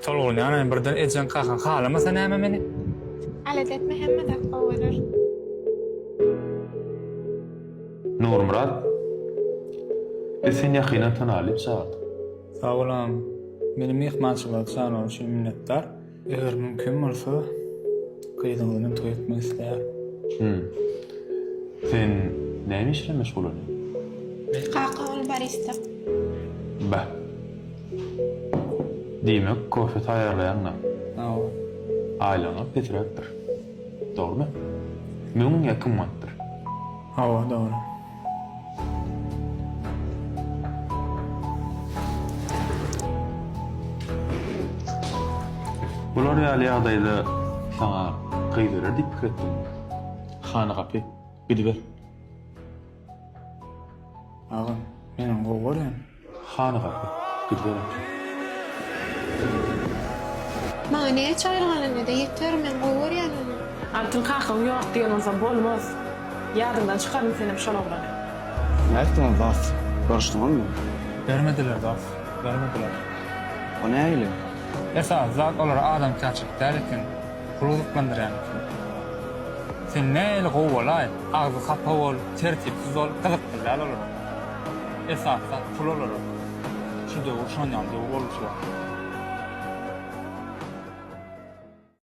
Tolgunjanaý birden ejeň kaka halamasa näme meni. Alada etme hemme zat gowy bolar. Nurmyrat biz seni ýakyndan tanaly diýip çagyrdyk. Sag bol agam. Meni myhmançylyga çagyrany üçin minnetdar. Eger mümkin bolsa gyzyňyz bilen toý etmek isleýärin. Hum. Sen näme iş bilen meşgul bolýaň? Kaka ol barista. Beh. Diýmek, kofe taýýarlaýaňda, aýlygyňyz pesiräkdir. Dogrumy? Müň ýa iki manatdyr. Hawa, dogry. Bular ýaly ýagdaýda saňa gyz berer diýip pikir etdiňmi? Hany gapy, gidiber. Agam, men ony gowy görýän. Hany gapy? Gidiber ata. Maňa näçe aýlyk alanyda ýeter, men gowy görýän ony. Altyn kakaň ýok diýen bolsa bolmaz. Ýadyňdan çykaryn senem şol oglany. Nätdiňiz dost? Görüşdiňizmi? Bermediler dost, bermediler. O nähili? Esasy zat olara adamkärçilik däl eken, pul gyzyklandyrýan eken. Sen nähili gowy bolaý, agzy hapa bol, tertipsiz bol, gyzykly däl olara. Esasda pul olarak şu döwür şonýaly döwür bolupdyr.